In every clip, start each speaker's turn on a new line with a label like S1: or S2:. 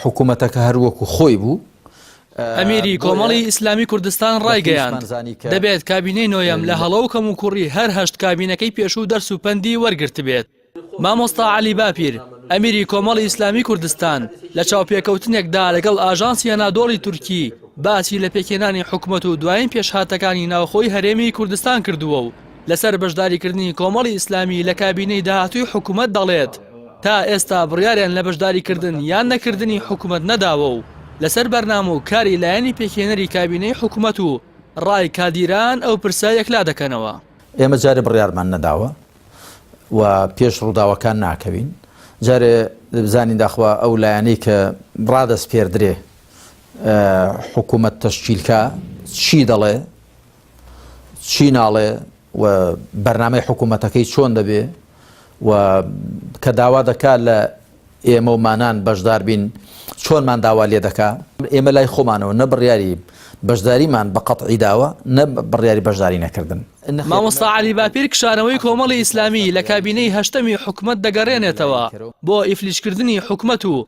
S1: حکوومەتەکە هەر وەکو خۆی بوو. ئەمیری
S2: کۆمەڵی ئیسلامی کوردستان ڕایگەیاند، دەبێت کابینەی نۆیەم لە هەڵە و کەموکوڕی هەر هەشت کابینەکەی پێشوو دەرس و پەندی وەرگرتبێت. مامۆستا عەلی باپیر، ئەمیری کۆمەڵی ئیسلامی کوردستان لە چاوپێکەوتنێکدا لەگەڵ ئاژانسی ئەنادۆڵی تورکی باسی لە پێکهێنانی حکومەت و دوایین پێشهاتەکانی ناوخۆی هەرێمی کوردستان کردووە و لەسەر بەشداریکردنی کۆمەڵی ئیسلامی لە کابینەی داهاتووی حکومەت دەڵێت، تا ئێستا بڕیاریان لە بەشداریکردن یان نەکردنی حکومەت نەداوە و لەسەر بەرنامە و کاری لایەنی پێکهێنەری کابینەی حکومەت و ڕای کادیران ئەو پرسە یەکلا دەکەنەوە. ئێمە جارێ
S1: بڕیارمان نەداوە و پێش ڕووداوەکان ناکەوین، جارێ بزانین داخوا ئەو لایەنەی کە ڕادەسپێردرێ حکومەت تەشکیل کا چی دەڵێ، چی ناڵێ و بەرنامەی حکوومەتەکەی چۆن دەبێ و کە داوا دەکا لە ئێمە و مانان بەشدار بین چۆنمان داوا لێ دەکا ئێمە لای خۆمانەوە نە بڕیاری بەشداریمان بە قەتعی داوە نە بڕیاری بەشداری نەکردن مامۆستا علی
S2: باپیر کشانەوەی کۆمەڵی ئیسلامی لە کابینەی هەشتەمی حکومەت دەگەڕێنێتەوە بۆ ئیفلیجکردنی حکومەت و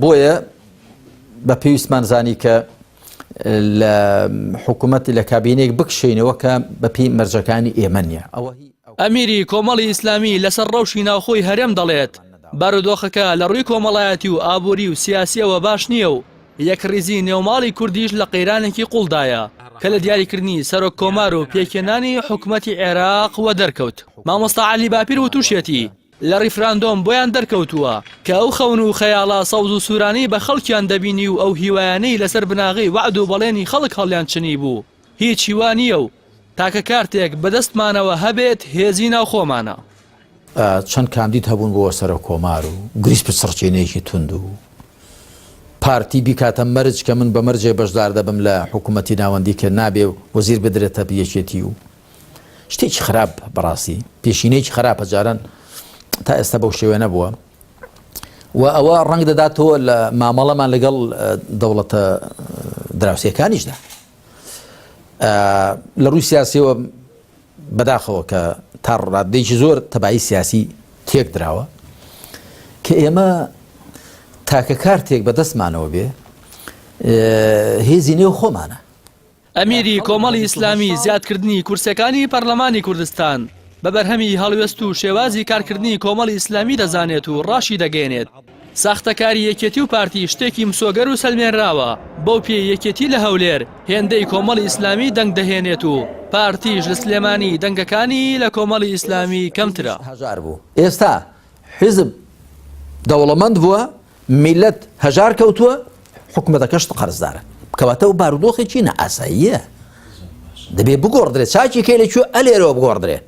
S1: بۆیە بە پێویستمان زانی کە لە حکوومەتی لە کابینێک بکشینەوە کە بەپی مەرجەکانی ئێمە نیە ئەوە ئەمیری
S2: کۆمەڵی ئیسلامی لەسەر ڕەوشی ناوخۆی هەرێم دەڵێت بارودۆخەکە لە ڕووی کۆمەڵایەتی و ئابووری و سیاسیەوە باش نییە و یەک ڕیزی نێوماڵی کوردیش لە قەیرانێکی قوڵدایە کە لە دیاریکردنی سەرۆک کۆمار و پێکێنانی حکوومەتی عێراق وە دەرکەوت مامۆستا علی باپیر و تووشێتی لە ڕیفراندۆم بۆیان دەرکەوتووە کە ئەو خەون و خەیاڵە سەوز و سوورانەی بە خەڵکیان دەبینی و ئەو هیوایانەی لەسەر بناغەی وەعد و بەڵێنی خەڵک هەڵیان چنیبوو هیچ هیوا نییە و تاکە کارتێک بە دەستمانەوە هەبێت هێزی ناوخۆمانە. چەند
S1: کاندید هەبوون بۆ سەرۆک کۆمار و گریس پچڕچینێکی توند و پارتی بیکاتە مەرج کە من بە مەرجێ بەشدار دەبم لە حکوومەتی ناوەندی کە نابێ وەزیر بدرێتە یەکێتی و شتێکی خراپ بەڕاستی پێشینەیەکی خراپە جاران تا ئێستا بەو شێوێ نەبووە و ئەوە ڕنگ دەداتەوە لە مامەڵەمان لەگەڵ دەوڵەتە دراوسەکانیشدا لە ڕووی سیاسیەوە بەداخەوە کە تا ڕادێکی زۆر تەبایی سیاسی تێک دراوە کە ئێمە تاکە کارتێک بەدەستمانەوە بێ هێزی نێو خۆمانە ئەمیری
S2: کۆمەڵی ئیسلامی زیادکردنی کورسەکانی پەرلەمانی کوردستان بە بەرهەمی هەڵوێست و شێوازی کارکردنی کۆمەڵی ئیسلامی دەزانێت و ڕاشیدەگەیەنێت، ساختەکاری یەکێتی و پارتی شتێکی مسۆگەر و سەلمێنراوە، بەو پێیەی یەکێتی لە هەولێر هێندەی کۆمەڵی ئیسلامی دەنگ دەهێنێت و پارتیش لە سلێمانی دەنگەکانی لە کۆمەڵی ئیسلامی کەمترە. ئێستا
S1: حیزب دەوڵەمەند بووە، میللەت هەژار کەوتووە حکومەتەکەشت قەرزدارە کەواتە و بارودۆخێکی نە ئاساییە دەبێ بگۆڕدرێت چاکی کەی لە کوێ ئەلێرەوە بگۆڕدرێ